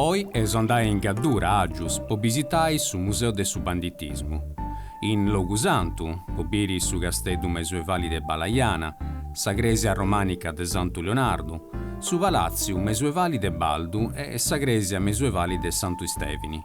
Oi eus andai in Gaddura, Agius, po bisitai su Museu de su Banditismu, in Logu Santu, po biri su Casteddu mesuevali de Balajana, sa Cresia romànica de Santu Leonardu, su Palàtziu mesuevali de Baldu e sa Cresia mesuevali de Santu Istèvini.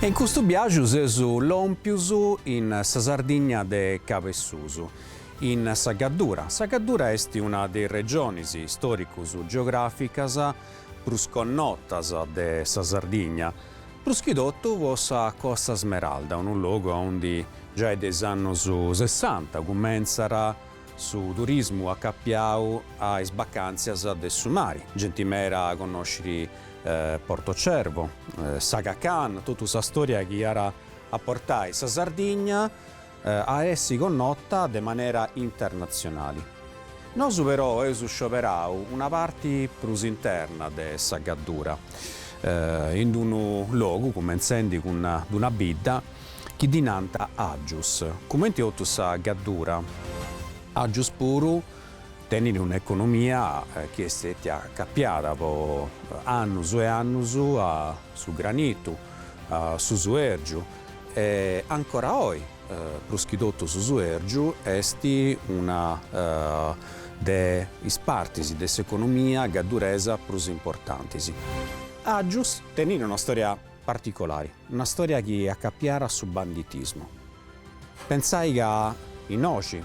E in custu biaju seus lòmpius in sa Sardigna de Cabessusu, in sa Gaddura. Sa Gaddura est una de is regionis stòricu-geogràficas prus connotas de sa Sardigna, prus chi totu po sa Costa Smeralda, unu logu aundi giai de is annus sessanta cumentzat su turismu acapiau a is bacàntzias de su mari, genti meda at a connosciri Porto Cervo, s'Aga Khan, totu sa stòria chi iat a portai sa Sardigna, a essi connota de manera internatzionali. Nosu però eus scioberau una parti prus interna de sa gaddura, in d-unu logu, cumentzendi cun d-una bidda, chi ddi nant Àgius. Cumenti totu sa gaddura, Àgius puru tenit un'economia chi est stètia acapiada po annus e annus a su granitu, a su suèrgiu, E ancora oi, prus chi totu su suèrgiu est una de is partis de s'economia gadduresa prus importantis. Àgius tenit una stòria particolari, una stòria chi est acapiada a su banditismu. Pensai ca innoxi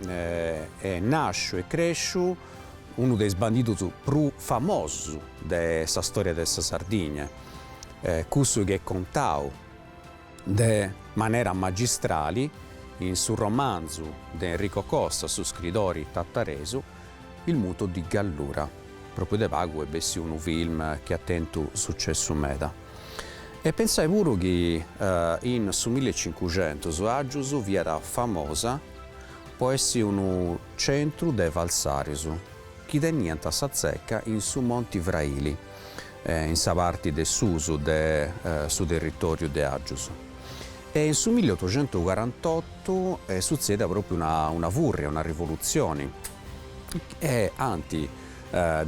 est nàsciu e crèsciu unu de is bandidus prus famosus de sa stòria de sa Sardigna. cussu chi est contau de manera magistrali in su romanzu de Enrico Costa, su scridori tataresu, Il muto di Gallura, propriu de pagu est bessiu unu film chi at tentu sucessu meda. E pensai puru chi in su milli e cincuxentus Àgius fiat famosa po essi unu centru de falsarius. chi teniant sa tzeca in su Monti Fraili, in sa parti de susu de su territòriu de Àgius. E in su milli otocentu carantotu est sutzèida pròpiu una fùrria, una rivolutzioni, e ant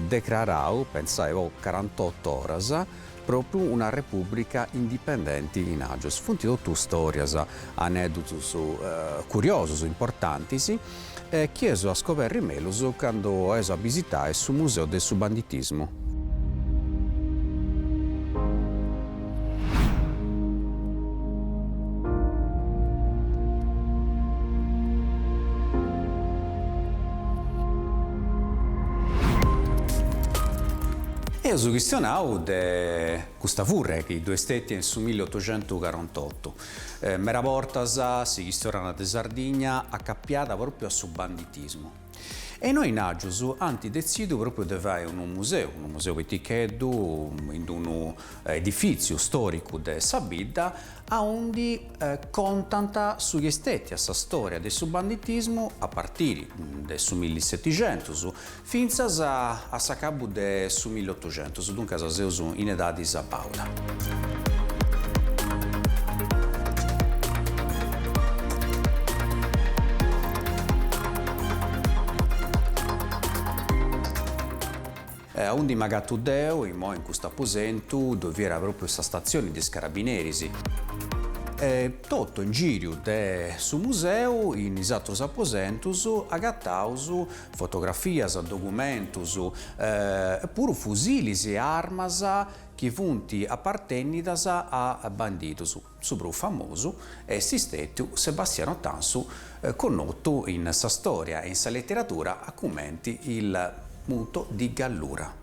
decrarau, pensai po carantotu oras, Propriu una Repubblica indipendenti in Àgius. Funt totu storias, aneddutus curiosus, importantis, chi eus a scoberri mellus candu eus a bisitai su Museu de su Banditismu. Eus chistionau de custa furriada chi ddoe est stètia in su milli otuxentuscorantotu. Meda bortas si chistionat de Sardigna acapiada pròpiu a su banditismu. E innoi in Àgius ant detzidu pròpiu de fai unu museu, unu museu piticheddu, in d'unu edifìtziu stòricu de sa bidda, aundi contant su chi est stètia sa stòria de su banditismu a partiri de su milli setixentus, Fintzas a s'acabu de su millotuxentus, duncas seus in edadi sabàuda. E aundi m'agatu deu, imoi in cust'aposentu, ddoi fiat pròpriu sa statzioni de is carabineris. E totu in gìriu de su museu, in is atrus aposentus, agataus fotografias, documentus e puru fusilis e armas chi funt apartènnidas a bandidus. Su prus famosu est stètiu Sebastiano Tansu connotu in sa stòria e in sa leteradura a cumenti il Muto di Gallura.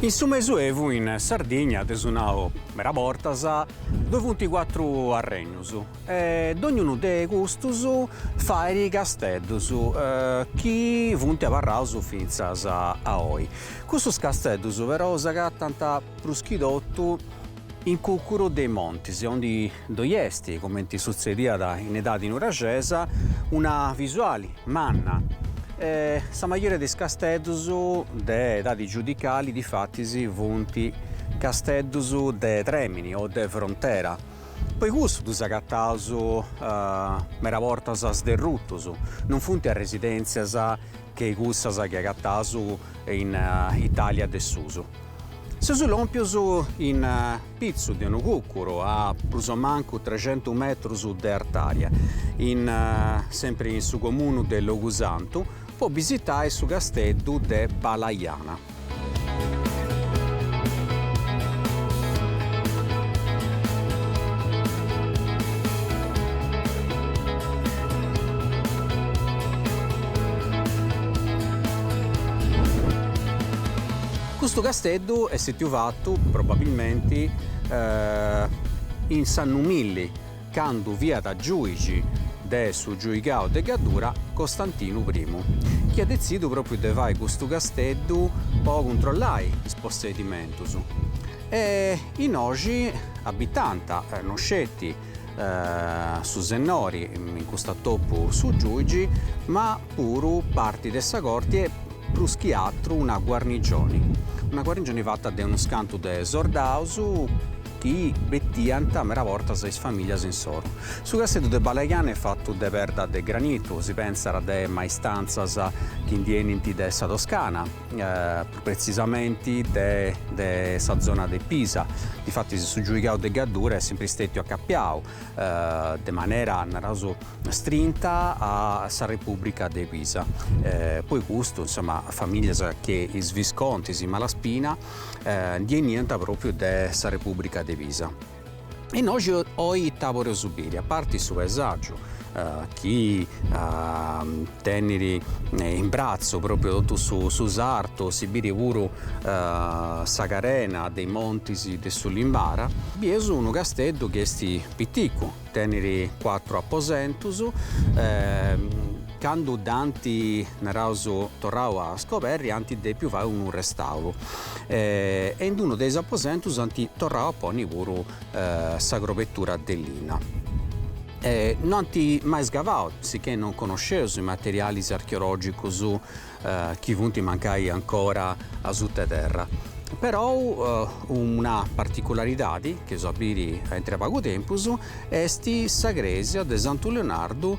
In su Mesuevu in Sardigna dd'eus nau meda bortas ddoi funt cuatru arrennus e dognunu de custus faiat casteddus chi funt abarraus fintzas a oi. Custus casteddus però s'agatant prus chi totu In Cucuru de is montis, aundi ddoi est, comenti sutzediat in edadi nuraxesa, una visuali manna, e sa majoria de is casteddus de edadi giudicali difatis funt casteddus de tremini o de frontera, po cussu ddus agataus meda bortas sderrutus, non funt residentzias che cussas chi agataus in Italia de susu. Seus lòmpios in pitzu de unu cùcuru a prus o mancu trexentu metrus de artària, sempri in su comunu de Logusantu, po bisitai su casteddu de Balajana. Custu casteddu est stètiu fatu, probabilmenti, in s'annu milli, candu fiat giùigi de su giuigau de Gaddura Costantinu Primu, chi at detzidu pròpiu de fai custu casteddu po cuntrollai is possedimentus. E innoxi abitànt, no sceti, su sennori, in cust'atopu su giuigi, ma puru parti de sa corti e, prus chi atru, una guarnigioni. Una guarnigioni fata de unus cantu de sordaus chi bettiant meda bortas is familias insoru. Su casteddu de Balajana est fatu de perda de granitu, si pensat de maistrantzas chi ndi 'enint de sa Toscana, pretzisamenti de sa zona de Pisa, difatis su giuigau de Gaddura est sempri stètiu acapiau de manera, naraus, strinta a sa Repùbrica de Pisa, po custu, insoma, famìlias che is Viscontis is Malaspina ndi 'eniant pròpriu de sa Repùbrica de Pisa. Innoxi oi ita podeus biri, a parti su paesàgiu chi tenit in bratzu pròpriu totu su sartu, si biri puru sa carena de is montis de su Limbara, bieus unu casteddu chi est piticu, tenit cuatru aposentus, candu dd'ant naraus torrau a scoberri ant dèpiu fai unu restauru, e in unu de is aposentus ant torrau a ponni puru sa crobetura de linna. No ant mai scavau, sicchè non connosceus is materialis archeologicus chi funt mancai ancora asuta 'e terra. Perou una particularidadi chi eus a biri a intre pagu tempus est sa crèsia de Santu Leonardu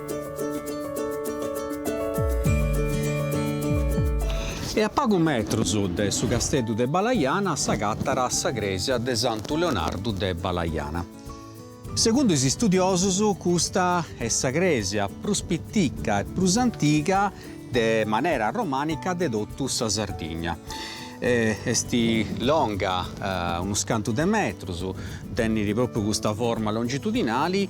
E a pagu metrus de su Casteddu de Balajana s'agatat sa crèsia de Santu Leonardu de Balajana. Segundu is istudiosus custa est sa crèsia prus pitica e prus antiga de manera romànica de totu sa Sardigna. Est longa unus cantu de metrus, tenit pròpriu custa forma longitudinali,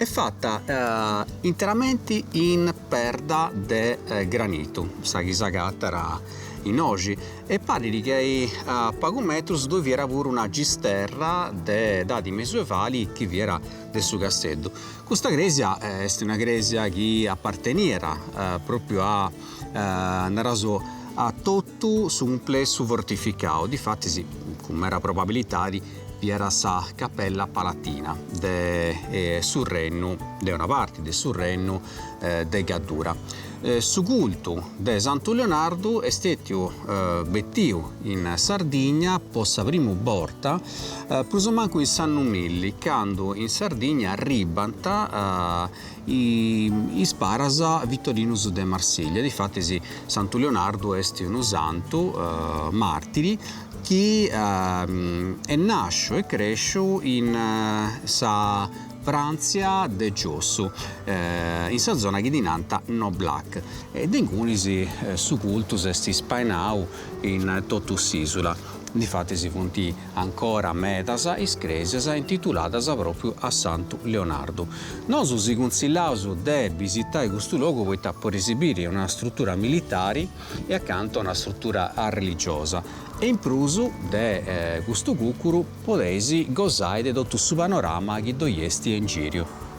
Est fata interamenti in perda de granitu sa chi s'agatat in oji e parit ca a pagu metrus ddoi fiat puru una gisterra de edadi mesuevali chi fiat de su Casteddu. Custa crèsia est una crèsia chi aparteniat propriu a naraus a Totu su cumplessu fortificau, difatis, cun mera probabilitadi, fiat sa Capella Palatina de su rennu, de una parti de su rennu de Gaddura. Su cultu de Santu Leonardu est stètiu betiu in Sardigna po sa primu borta prus o mancu in s'annu milli, candu in Sardigna arribbant is paras Vittorinus de Marsiglia. Difatis Santu Leonardu est unu santu martiri chi est nasciu e cresciu in sa Frantzia de giossu, in sa zona chi ddi nant Noblac, e de ingunis su cultu s'est spainau in totu s'isula. Difatis funt Ancora medas is crèsias intituladas pròpriu a Santu Leonardu. Nosu si cunsillaus de bisitai custu logu poita poreis biri una strutura militari e acantu una strutura religiosa e in prus de custu cucuru podeis gosai de totu su panorama chi ddoi esti a ingìriu.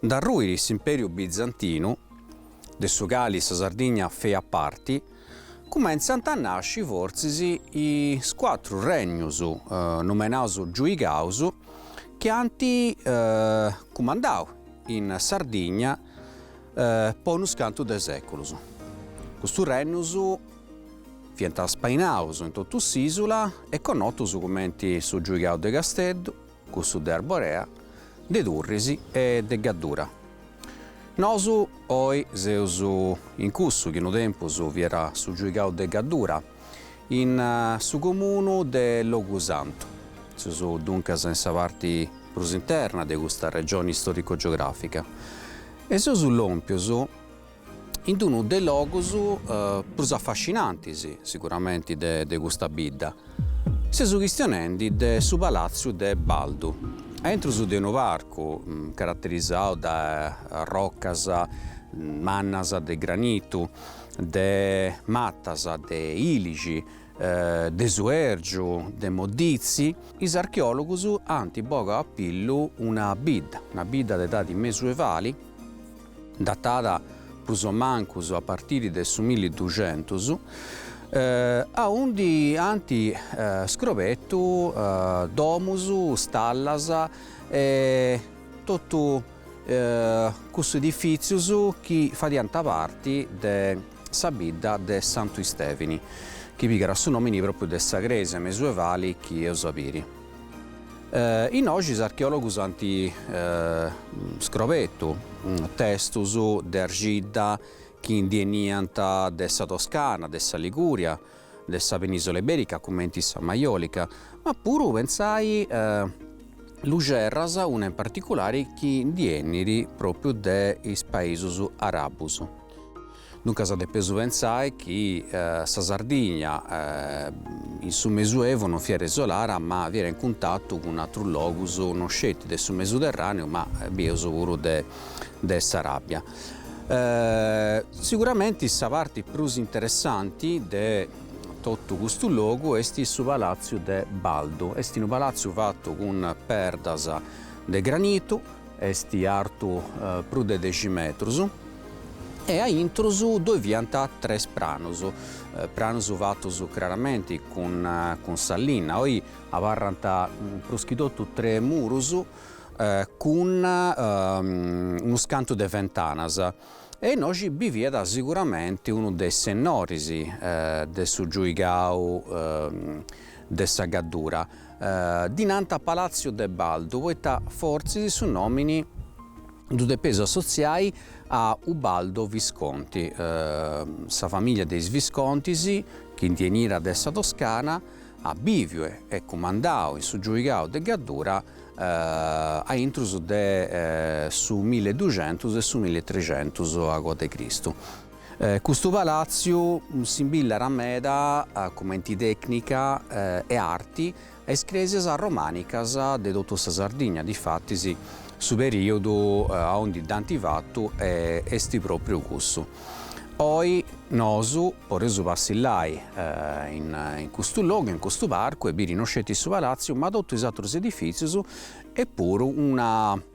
Nd'arruit s'Imperiu Bizantinu, de su cali sa Sardigna feiat parti, cumentzant a nasci fortzis is cuatru regnius numenaus Giuigaus chi ant cumandau in Sardigna po unus cantu de seculus. Custus regnius fiant spainaus in totu s'isula e connotus cumenti su Giuigau de Casteddu, Cussu de Arborea, de Turris e de Gaddura. Nosu oi seus in cussu chi unu tempus fiat su giuigau de Gaddura, in su comunu de Logusantu. Seus duncas in sa parti prus interna de custa regioni istorico-geografica e seus lompius in unu de logus prus affascinantis siguramenti de custa bidda. Seus chistionendi de su Palatziu de Baldu, aintru de unu parcu caratterisau dae roccas mannas de granitu, de mattas de ilixi, de suergiu, de moddizi, is archeologus ant bogau a pillu una bidda, una bidda de edadi mesuevali, datat prus o mancus a partiri de su milli duxentus, aundi ant scrobetu domus, stallas e totu cussus edifìtzius chi fadiant parti de sa bidda de Santu Istèvini, chi pigat su nòmini pròpiu de sa crèsia mesuevali chi eus a biri. Innoxi is archeòlogus ant scrobetu testus de arxidda chi ndi 'eniant de sa Toscana, de sa Ligùria, de sa penìsola ibèrica cumenti sa Maiòlica, ma puru pentzai luxerras, una in particulari chi ndi 'enit pròpriu de is paisus arabus. Duncas depeus pentzai chi sa Sardigna in su Mesuevu non fiat isolara ma fiat in cuntatu cun atrus logus non sceti de su Mesuterràneu ma bieus puru de s'Aràbia. Siguramenti sa parti prus interessanti de totu custu logu est su Palàtziu de Baldu, est unu palàtziu fatu cun perdas de granitu, Est artu prus de dexi metrus e a intrus ddoi fiant tres pranus, pranus fatus craramenti cun sa linna, oi abarrant prus chi totu tres murus cun unus cantu de fentanas e innoxi biviat siguramenti unu de is sennoris de su giuigau de sa Gaddura. Ddi nant Palàtziu de Baldu poita fortzis su nòmini ddu depeus assotziai a Ubaldo Visconti, sa famìlia de is Viscontis, chi ndi 'eniat de sa Toscana, at bìviu e cumandau in su giuigau de Gaddura aintrus de su milleduxentus e su milletrexentus acoa de Cristu. Custu palàtziu simbillat meda, cumenti tècnica e arti, a is crèsias romànicas de totu sa Sardigna, difatis su perìodu a undi dd'ant fatu est pròpriu cussu. Oi nosu podeus passillai in custu logu, in custu parcu e biri no sceti su palàtziu ma totu is atrus edifìtzius e puru una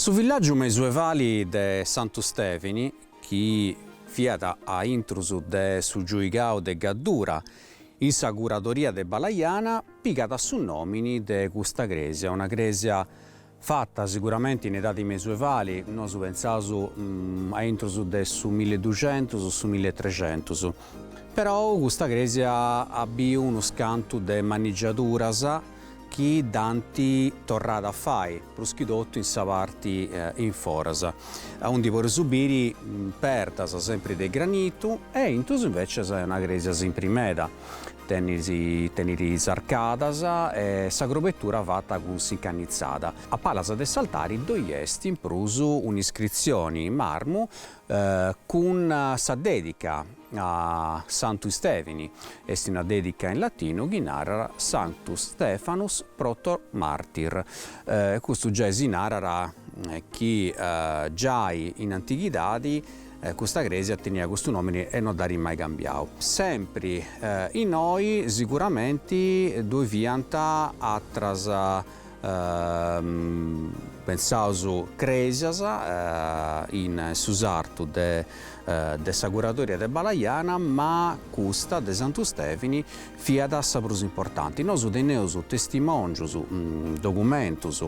Su villàgiu mesuevali de Santu Stèvini, chi fiat a intrus de su giuigau de Gaddura, in sa curadoria de Balajana, pigat su nòmini de custa crèsia, una crèsia Fata siguramenti in edadi mesuevali, nosu pentzaus a intrus de su milliduxentus o su milletrecentus. Perou custa cresia at biu unus cantus de manigiaduras chi dd'ant torrada a fai, prus chi totu in sa parti in foras, aundi poreus biri perdas sempri de granitu e aintru invècias est una cresia simpri meda, Tenit is arcadas e sa grobetura fata cun s'incannitzada. A palas de s'altari ddoi est in prus un'iscritzioni in marmu cun sa dèdica a Santu Istèvini, est una dèdica in latinu chi narat Sanctus Stephanus protomartyr. Custu giai si narat chi giai in antighidadi Custa crèsia teniat custu nòmini e no dd'at mai cambiau. Sempri innoi siguramenti ddoi fiant atras, pentzaus, crèsias in su sartu de sa curadoria de Balajana, ma custa de Santu Stèvini fiat sa prus importanti. Nosu teneus testimòngius, documentus,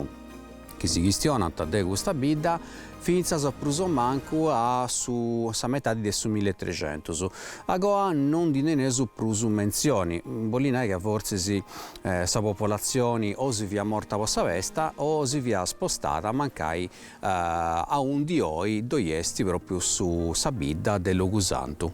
chi si chistionant de custa bidda fintzas a prus o mancu a su sa metadi de su milletrecentus. Agoa non ndi teneus prus mentzioni, bolit nai ca fortzis sa popolatzioni o si fiat morta po sa pesta o si fiat spostada mancai aundi oi ddoi est pròpriu su sa bidda de Logusantu.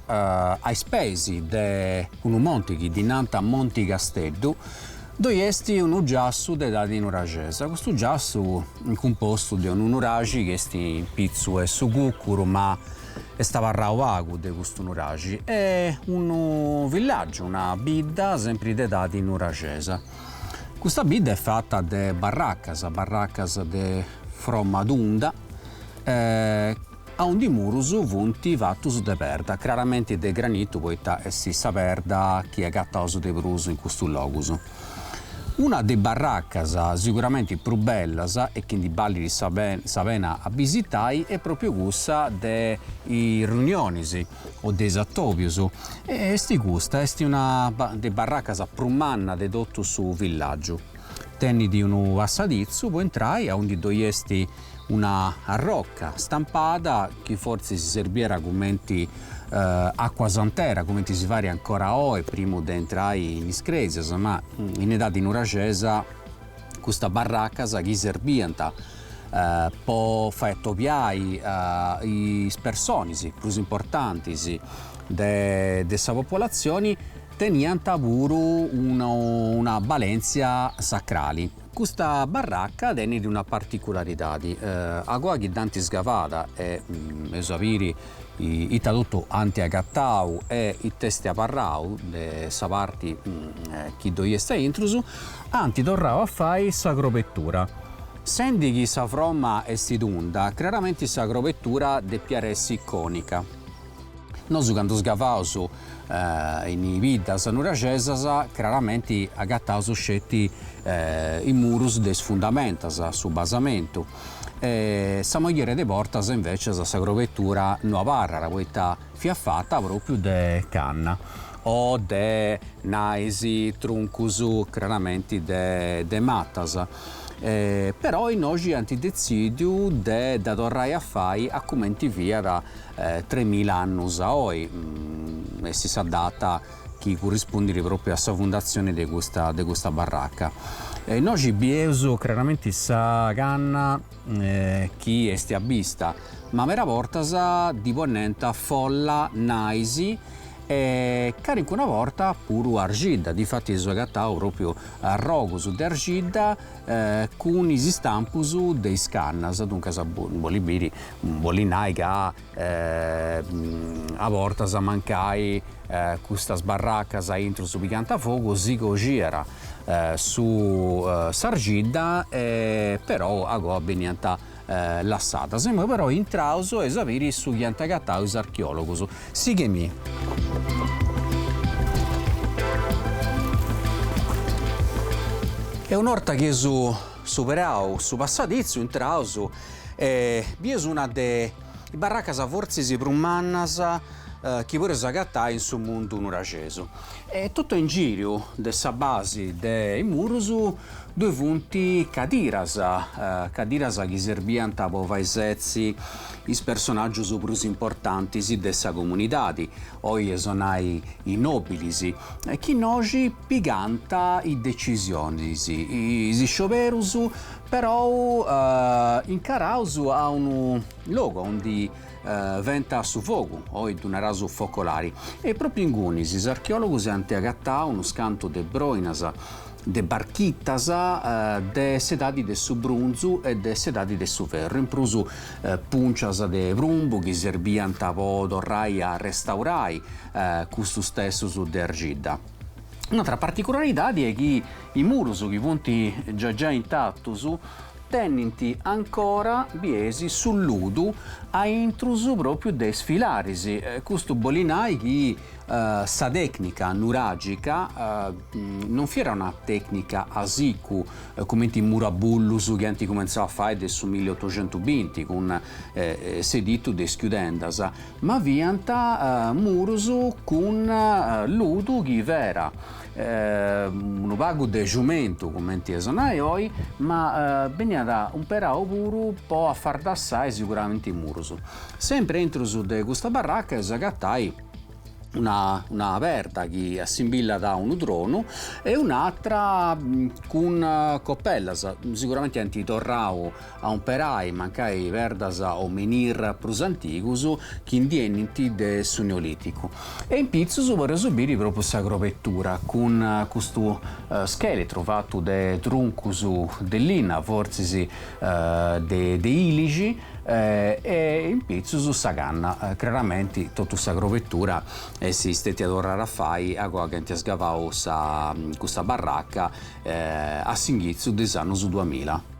a is peis de unu monti chi ddi nant Monti Casteddu, ddoi est unu giassu de edadi nuraxesa. Custu giassu est cumpostu de unu nuraxi chi est in pitzu 'e su cucuru ma est abarrau pagu de custu nuraxi e unu villàgiu, una bidda sempri de edadi nuraxesa. Custa bidda est fata de barracas, barracas de fromma tunda e Aundi is murus funt fatus de perda, craramenti de granitu poita est sa perda chi agataus de prus in custus logus. Una de is barracas siguramenti prus bellas e chi ndi balit sa pena a bisitai est propriu cussa de is riunionis o de is atobius e est custa est una de is barracas prus manna de totu su villagiu. Tenit unu passaditzu po intrai aundi ddoi est una arroca stampada chi fortzis si serbiat cumenti acuasantera, cumenti si fait ancora oe primu de intrai in is cresias, ma in edadi nuraxesa custas barracas chi serbiant po fai atobiai is personis prus importantis de sa populatzioni Teniant puru una balèntzia sacrali. Custa barraca tenit una particularidadi, agoa chi dd'ant isgavada e eus a biri ita totu ant agatau e ita est abarrau de sa parti chi ddoi est a intrus, ant torrau a fai sa crobetura. Sendi chi sa froma est tunda, craramenti sa crobetura depiat essi cònica. Nosu candu sgavaus in biddas nuraxesas craramenti agataus sceti is murus de is fundamentas, su basamentu, e sa maioria de bortas invecias sa crobetura no abarrat poita fiat fata propriu de canna o de nais truncus craramenti de matas, però innoxi ant detzidiu de dda torrai a fai a cumenti fiat Tres mila annus a oi est sa data chi currispundit propriu a sa fundatzioni de custa de custa barraca. Innoxi bieus craramenti sa canna chi esti a bista, ma meda bortas ddi poniant folla, nais e carincuna borta puru arxidda, difatis eus agatau propriu arrogus de arxidda cun is istampus de is cannas, duncas bolit biri, bolit nai ca a bortas mancai custas barracas a intrus pigant fogu si coxiat su s'argidda e però agoa beniant lassadas. Imoi però intraus e eus a biri su chi ant agatau is archeòlogus. Sighemi. E una 'orta chi eus superau su passaditzu intraus e bieus una de is barracas fortzis prus mannas chi podeus agatai in su mundu nuraxesu e totu a ingìriu de sa basi de is murus Ddoi funt cadiras, cadiras chi serbiant po fai setzi is personàgius prus importantis de sa comunidadi, oi eus a nai is nòbilis, chi innoxi pigant is decisionis. Is scioberus però incaraus a unu logu aundi Faiant su fogu, oi ddu naraus focolari, e pròpriu ingunis is archeòlogus ant agatau unus cantu de broinas de barchitas de s'edadi de su brunzu e de s'edadi de su ferru, in prus pùncias de prumbu chi serbiant po torrai a restaurai custus testus de argidda. Un'atra particularidadi est chi is murus chi funt giai giai intatus Tenint ancora, biesi, su ludu a intrus pròpiu de is filaris. Custu bolit nai chi sa tècnica nuràgica non fiat una tècnica a sicu, cumenti is murabullus chi ant cumentzau a fai de su milli otoxentu binti cun s'editu de is chiudendas, Ma fiant murus cun ludu chi fiat unu pagu de ciumentu, cumenti eus a nai oi, ma beniat umperau puru po afardassai siguramenti murus. Sempri aintrus de custa barraca eus agatai una perda chi assimbillat a unu tronu e un'atra cun copellas, siguramenti ant torrau a umperai mancai perdas o menhir prus antigus chi ndi 'enint de su Neolìticu e in pitzus podeus biri pròpriu sa crobetura cun custu scheletru fatu de truncus de linna, fortzis de ilixi, e in pitzus sa canna, craramenti totu sa crobetura est stètia torrada a fai agoa chi ant sgavau custa barraca a s'inghitzu de is annus duamila.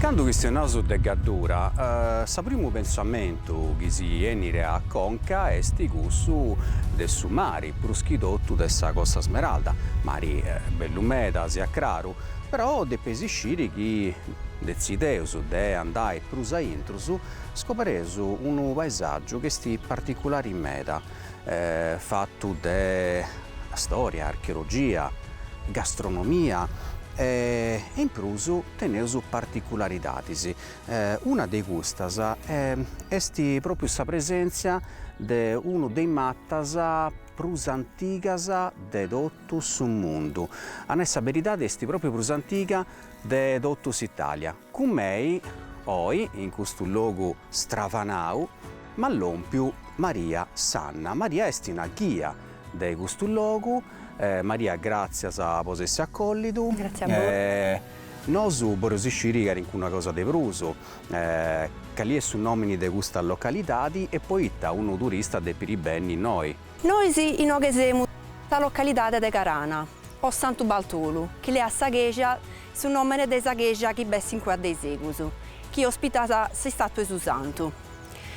Candu chistionaus de Gaddura, sa primu pentzamentu chi si 'enit a conca est cussu de su mari, prus chi totu de sa Costa Smeralda. Mari bellu meda, siat craru, però depeis isciri chi detzideus de andai prus a intro, Scoberreus unu paesàgiu chi est particulari meda, fatu de stòria, archeologia, gastronomia e in prus teneus particularidadis. Una de custas est pròpriu sa presèntzia de unu de is matas prus antigas de totu su mundu, a nai sa beridadi est pròpriu prus antiga de totu s'Itàlia. Cun mei oi in custu logu stravanau m'at lompiu Maria Sanna. Maria est una ghia de custu logu. Maria gràtzias po s'essi acòllidu. Gràtzia a bois. Nosu boreus isciri calincuna cosa de prus, cali est su nòmini de custa localidadi e poita unu turista depit benni innoi. Nois inoghe semus sa localidade de Carana o Santu Baltolu, chi leat sa cheja su nòmene de sa cheja chi b'est in cue daisegus, chi ospitat s'istàtua 'e su Santu.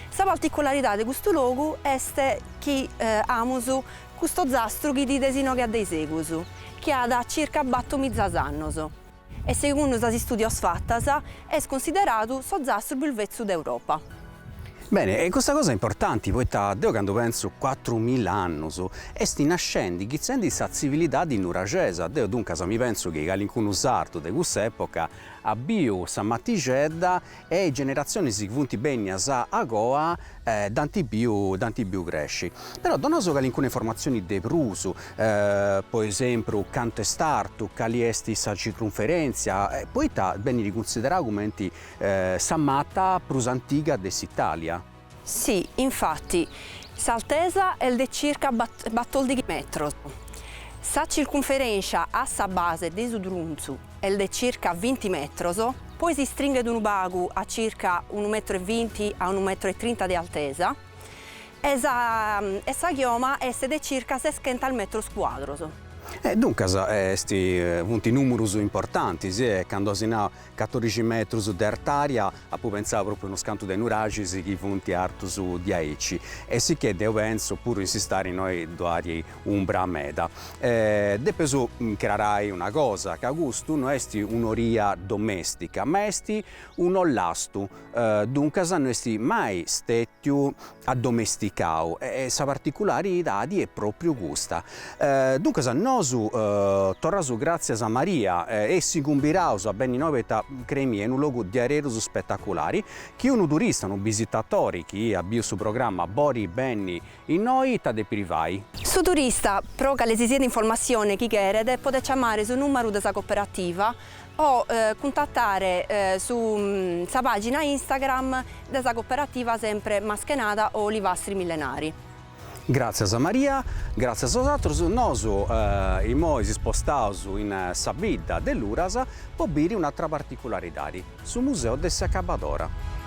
Sa particularidade de custu logu est chi amus custu ozastru chi bides inoghe addaisegus, chi at circa battor mizas annos. e segundu sas istùdios fatas est consideradu s'ozastru prus vetzu de Europa. Bene, est custa cosa importanti, poita deu candu pentzu cuatru mila annus, est nascendi chitzendi sa tzivilidadi nuraxesa, deu duncas mi pentzu chi calincunu sardu de cuss'epoca at biu sa matixedda, e is generatzionis chi funt bennias a goa dd'ant biu dd'ant biu cresci. Però dona·nosì calincuna informatzioni de prus, po esempru, cantu est artu, cali est sa circunferèntzia, poita benit cunsiderau cumenti sa mata prus antiga de s'Itàlia. Si, infati, s'altesa est de circa batòrdighi metros, sa circunferèntzia a sa base de su truncu est de circa vinti metros, poi s'istringhet unu pagu a circa unu metru e vinti a unu metru e trinta de altesa, e sa e sa chioma est de circa seschentos metros cuadros. E duncas est funt nùmerus importantis e candu si nau Catorixi metrus de artària, apu pentzau pròpriu a unos cantu de nuraxis chi funt artus diaici, e sicchè deu pentzu puru in s'istadi innoi ddoi at umbra meda. Depeus acrarai una cosa, ca custu no est un'oria domèstica, ma est un'ollastu, duncas no est mai stètiu addomesticau e sa particularidadi est propriu custa. Duncas nosu torraus gràtzias a Maria e si cumbidaus a benni innoi poita creei·mì est unu logu diaderus spetaculari chi unu turista, unu bisitatori chi at biu su programma bolit benni innoi ita depit fai. Su turista, pro calesisiat informassione chi cheret, podet ciamare su nùmeru de sa coperativa o cuntatare su sa pàgina Instagram de sa coperativa sempre maschenada o olivastri millenari. Gràtzias a Maria, gràtzias a bosatrus, nosu imoi si spostaus in sa bidda de Luras po biri un'atra particularidadi, su museu de s'acabadora.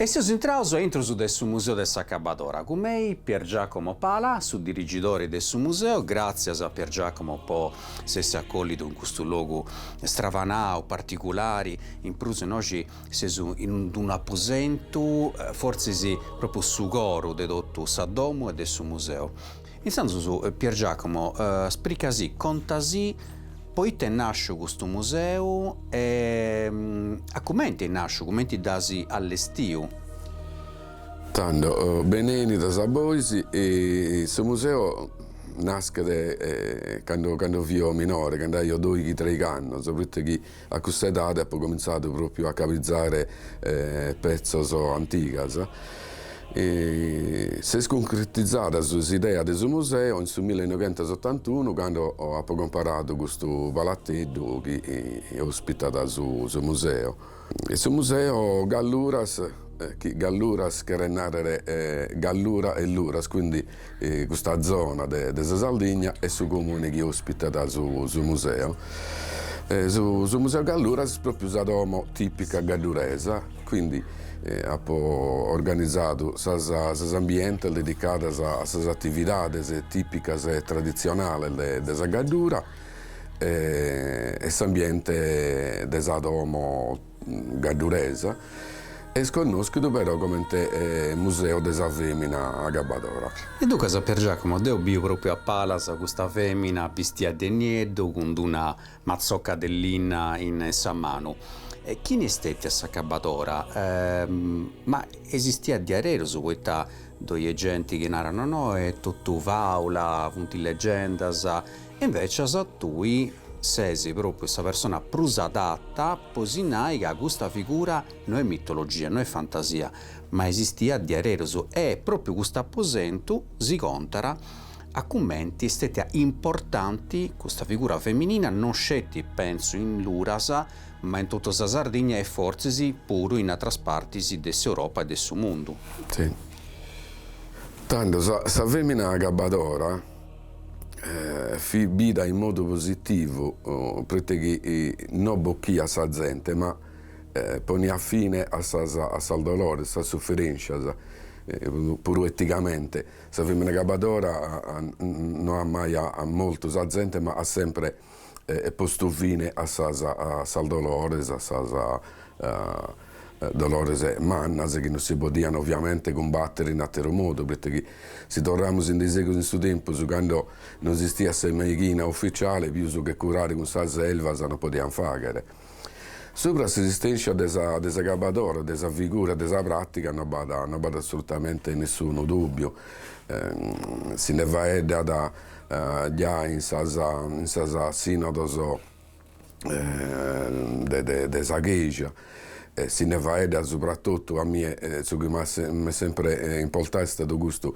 E seus intraus a intrus de su Museu de s'Acabadora, cun mei Pier Giacomo Pala, su dirigidori de su museu, gràtzias a Pier Giacomo po s'essi acòllidu in custu logu stravanau, particulari, in prus innoxi Seus in unu aposentu, fortzis pròpriu su coru de totu sa domu e de su museu. Intzandus Pier Giacomo, sprica si, conta si, po ite est nàsciu custu museu e a cumenti est nàsciu, cumenti dd'as allestiu. Tando, benènnidas a bois, su museu naschet cando cando fio minore, cando aio doighi-traigh'annos, pro ite chi A custa edade apo comintzadu pròpiu a cabitzare petzos antigas. S'est cuncretizada s'idea de su museu in su millenoighentosottantunu cando apo comparadu custu palateddu chi òspitat su museu. Su museu Galluras, chi Galluras cheret nàrrere Gallura e Luras, quindi Custa zona de sa Sardigna e su comune chi ospitat su museu. Su Museu Galluras est pròpiu sa domo tìpica gadduresa, quindi apo organizadu sas ambientes dedicados a sas atividades tìpicas e traditzionales de sa Gaddura e s'ambiente de sa domo. gadduresa, est connòschidu però comente Museu de sa fèmina agabbadora. E duncas Pier Giacomo deu biu pròpiu a palas custa fèmina bistia de nieddu cun d-una matzocca de linna in sa manu. Chini est stètia s'agabbadora? Ma esistiat diaderus poita ddoi est genti chi narat no no, est totu fàula, funt legendas, Invecias tui sesi propriu sa persona prus adatta po si nai ca custa figura no est mitologia, no est fantasia, ma esistiat diaderus e propriu cust'aposentu si contat cumenti est stetia importanti custa figura feminina no sceti pentzu in Luras ma in totu sa Sardigna e fortzis puru in atras partis de s'Europa e de su mundu. Tando sa femina agabbadora. fit bida in modu positivu proite chi no bocchiat sa zente ma poniat fine a sas a sas dolores, a sas suferènscias, puru eticamente. Sa femina acabadora no at mai moltu sa zente ma at sempre e postu fine a sas a sas dolores, a sas dolores mannas chi non si podian oviamente cumbater in ateru modu, proite chi si torramus in daisegus in su tempus cando non esistiat sa meighina ufficiale pius che curare cun sas elvas non podian fagher. Subra s'esistèntzia de sa de s'agabadora, de sa figura, de sa pràtiga no b'at no b'at assolutamente nessunu dùbbiu, si nde faeddat giai in sas in sas sinodos de de de sa Chèja e si nde faeddat subrattotu a mie su chi m'at m'est sempre importadu est istadu custu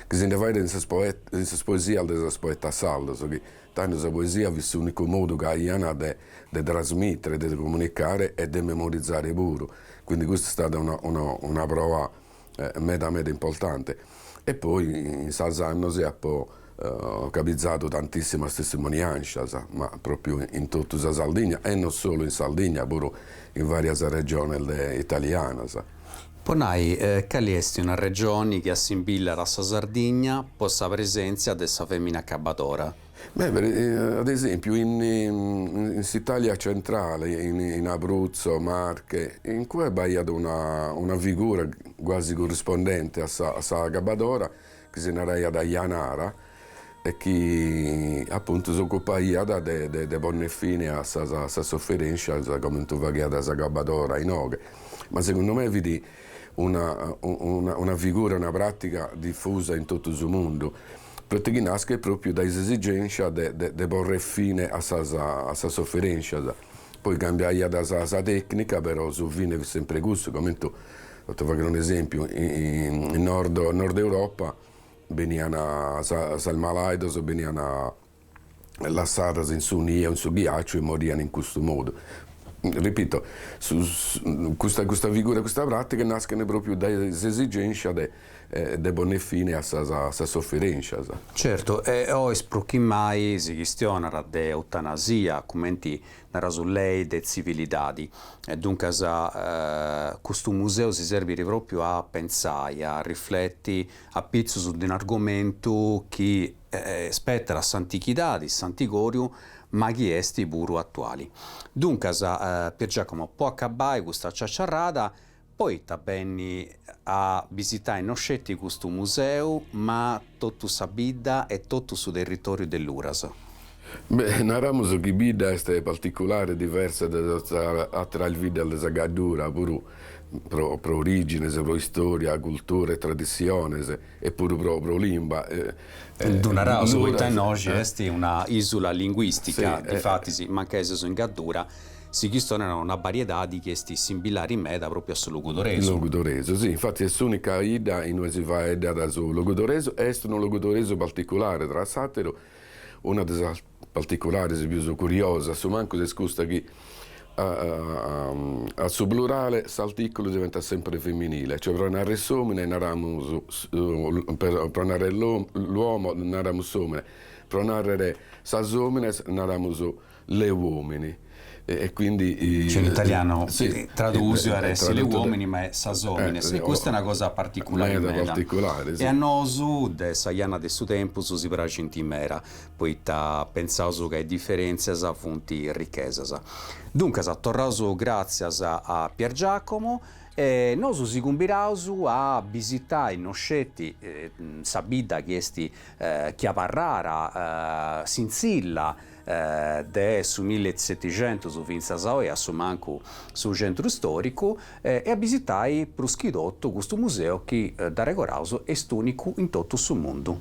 chi si nde faeddat in sas in sas poesias de sas poetas sardos chi Tando sa poesia fit s'unicu modu chi aian de trasmitere, de comunicare e de memorizare puru, quindi custa est stada una proa meda meda importante. E poi in sas annos apo cabizadu tantissimas testimoniancias, ma propriu in totu sa Sardigna e non solu in Sardigna, puru in varias regiones italianas. Po nai, cali est una regioni chi assimbillat a sa Sardigna po sa presentzia de sa femina acabadora? Ad esempiu in s'Italia centrale, in Abruzzo, Marche, in cue b'aiat una figura quasi corrispondente a sa acabadora, chi si naraiat Janara, e chi apuntu s'ocupaiat de ponner fine a sas sofferènscias comente faghiat s'acabadora inoghe, ma segundu me fit una figura, una pràtiga difusa in totu su mundu, pro ite chi naschet pròpiu dae s'esigènscia de porrer fine a sas sofferènscias, poi cambiaiat sa tècnica però su fine fit semper cussu, comente, pro ti fagher un'esèmpiu, in Nord Europa benian sas malàidos benian lassadas in su nie, in su ghiàciu e morian in custu modu. Ripito, custa custa figura e custa pràtiga naschent pròpriu dae s'esigènscia de de ponner fine a sas a sas soferènscias. Certu, e oi prus chi mai si chistionat de eutanasia, cumenti nas tui lei de tzivilidadi. E duncas custu museu si serbit pròpriu a pentzai, a rifleti apitzus de un'argomentu chi spetat a s'antichidadi, s'antigòriu, ma chi est puru atuali. Duncas, Pier Giacomo, po acabai custa ciaciarrada, poita benni a bisitai no sceti custu museu, ma totu sa bidda e totu su territòriu de Luras? Beh, naramus chi sa bidda est particulare e diversa de ateras biddas de sa Gaddura, puru pro orìgines, pro istòria, cultura e traditziones, e puru pro limba. Ddu naraus poita innoxi est una ìsula linguìstica, difatis, mancai seus in Gaddura, si chistionat una bariedadi chi est simbilari meda pròpriu a su logudoresu. Logudoresu, si, infatis est s'ùnica 'idda in ue si faeddat su logudoresu e est unu logudoresu particulare, tra s'àteru, una de sas particulares pius curiosas, su mancus est custa chi a su plurale s'artìculu diventat semper feminile, cioè pro narrer s'òmine naramus pro narrer l'uomo naramus s'òmine, pro narrer sas òmines naramus le uomini. E quindi. Cioè in italiano tradusiu at a essi le uomini ma est sas òmines e custa est una cosa particulari meda e a nosu de sa jana de su tempus si praxint meda poita pentzaus ca is diferentzias funt richesas. Duncas torraus gratzias a Pier Giacomo e nosu si cumbidaus a bisitai no sceti sa bidda chi esti chi abarrada sintzilla de su milli e setixentus fintzas a oi a su mancu su centru storicu e a bisitai prus chi totu custu museu chi dd'arregordaus est unicu in totu su mundu.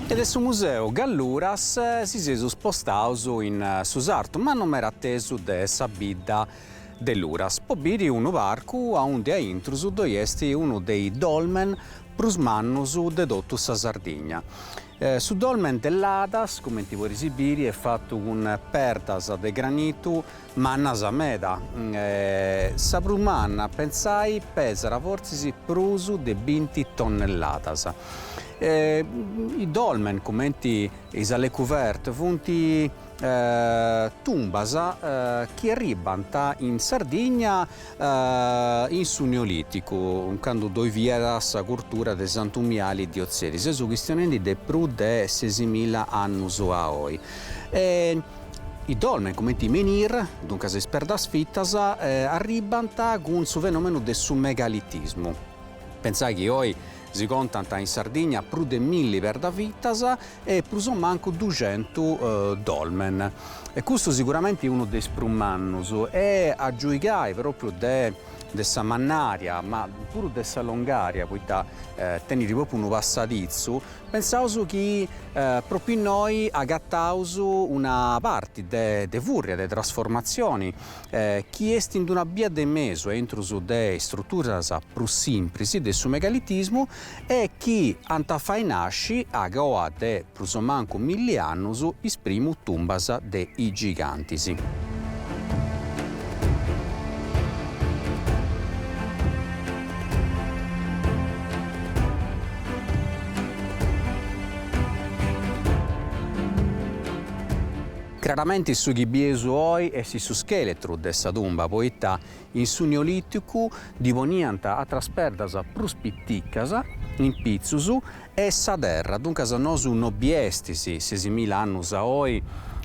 E de su Museu Galluras si seus spostaus in su sartu ma no meda atesu de sa bidda de Luras po biri unu parcu aundi a intrus ddoi est unu de is dolmen prus mannus de totu sa Sardigna. Su dolmen de Ladas, cumenti podeis biri, est fatu cun perdas de granitu Mannas meda. Sa prus manna, pentzai, pesat fortzis prus de binti tonnelladas. I dolmen, cumenti is allée couverte, funt tumbas chi arribbant in Sardigna in su Neolìticu, candu ddoi fiat sa curtura de Santu Miali di Otzieri. Seus chistionendi de prus de sesimilla annus a oi. I dolmen, cumenti menhir, duncas is perdas fitas, arribbant cun su fenomenu de su megalitismu. Pentzai chi oi si contant in Sardigna prus de milli perda fitas e prus o mancu duxentu dolmen. E custu siguramenti unu de is prus mannus e a giuigai propriu de sa mannària ma puru de sa longaria, poita tenit propriu unu passaditzu Pensaus chi propriu innoi agataus una parti de fùrria, de trasformatzioni, chi est in una bia de mesu intrus de istruturas prus simpris de su megalitismu e chi ant a fai nasci, agoa de prus o mancu milli annus, is primu tumbas de is gigantis. Craramenti su chi bieus oi est su scheletru de sa tumba poita in su Neoliticu ddi poniant atras perdas prus piticas, in pitzus, e sa terra, duncas nosu no biestis sesimila annus a oi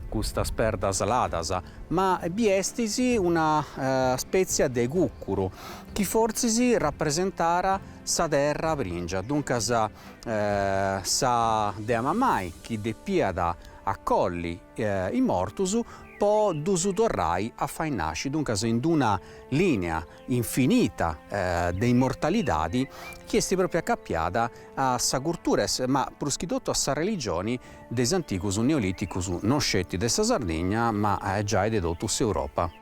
custas perdas ladas, ma biestis una spetzia de cucuru chi fortzis rapresentara sa terra prìngia, duncas sa dea mamai chi depiat acolli is mortus po ddus torrai a fai nasci, duncas in d-una lìnia infinita de immortalidadi chi est pròpriu acapiada a sa curtura ma prus chi totu a sa religioni de is antigus neoliticus, no sceti de sa Sardigna ma giai de totu s'Europa.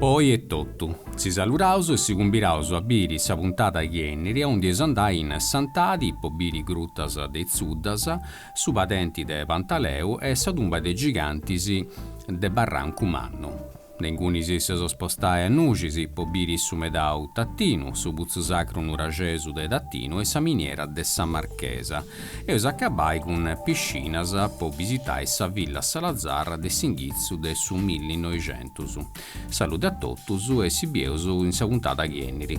Po oi est totu. Si saluraus e si cumbiraus a biri sa puntada chi enniri aundi eus a andai in Santadi po biri grutas de Is Tzuddas, su padenti de Pantaleu e sa tumba de gigantis de Barrancu Mannu. De inguni si eus a spostai a Nuxis po biri su medau Tattinu, su putzu sacru nuraxesu de Tattinu e sa miniera de sa Marchesa. Eus a acabai cun Piscinas po bisitai sa Villa Salazar de s'inghitzu de su millinoixentus. Salude a totus e si bieus in sa puntada chi eniri.